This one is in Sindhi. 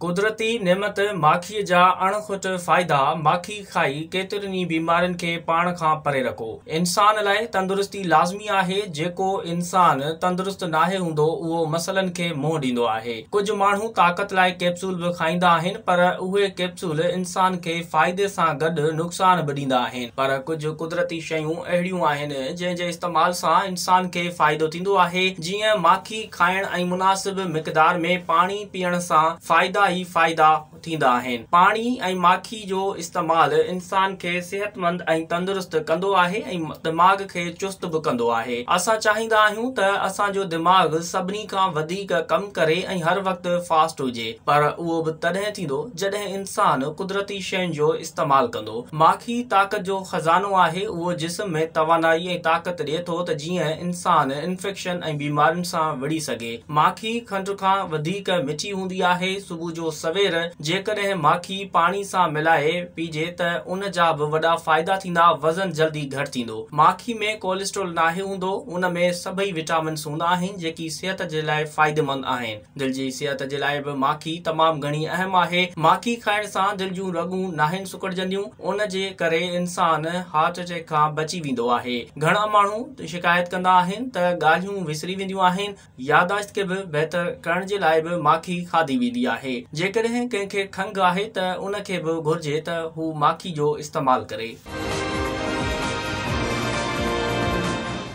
قدرتي نعمت ماکيء جا اڻ کٽ فائدا، ماکي کائي ڪيترين ئي بيمارين کي پاڻ کان پري رکو. انسان لاء تندرستي لازمي آهي، جيڪو انسان تندرست ناهي هوندو اهو مسئلن کي منهن ڏيندو آهي. ڪجهه ماڻهو طاقت لاء ڪيپسول به کائيندا آهن پر اهي ڪيپسول انسان کي فائدي سان گڏ نقصان به ڏيندا آهن. پر ڪجهه قدرتي شيون اهڙيون آهن جنهن جي استعمال سان انسان کي فائدو ٿيندو آهي جيئن ماکي کائڻ ۽ مناسب مقدار ۾ پاڻي پيئڻ سان فائدا ئي فائدا ٿيندا آهن. پاڻي ۽ ماکي جو استعمال انسان کي صحتمند ۽ تندرست ڪندو آهي ۽ دماغ کي چست به ڪندو آهي. اسان چاهيندا آهيون ته اسان جو دماغ سڀني کان وڌيڪ ڪم ڪري ۽ هر وقت فاسٽ هجي پر اهو به تڏهن ٿيندو جڏهن انسان قدرتي شين جو استعمال ڪندو. ماکي طاقت جو خزانو آهي اهو جسم ۾ توانائي ۽ طاقت ڏئي ٿو ته جيئن انسان انفيڪشن ۽ بيمارين سان وڙهي سگهي. ماکي کنڊ کان وڌيڪ مٺي هوندي آهي، صبح جو سوير جيڪڏهن ماکي پاڻي سان ملائي پيجي ته ان جا به وڏا فائدا ٿيندا، وزن جلدي گهٽ ٿيندو. ماکي ۾ ڪوليسٽرول ناهي هوندو، ان ۾ سڀئي وٽامنس هوندا آهن جيڪي صحت جي لاء فائديمند آهن. دل جي صحت جي لاء به ماکي تمام گهڻي اهم آهي، ماکي کائڻ سان دل جون رڳون ناهن سڪڙجنديون، ان جي ڪري انسان هارٽ اٽيڪ کان بچي ويندو آهي. گهڻا ماڻهو شڪايت ڪندا آهن ته ڳالهيون وسري وينديون آهن. ياداشت کي به بهتر ڪرڻ جي لاء به ماکي کاڌي ويندي آهي. جيڪڏهن ڪنهن کي کنگهه آهي ته ان کي به گهرجي ته هو ماکي جو استعمال ڪري.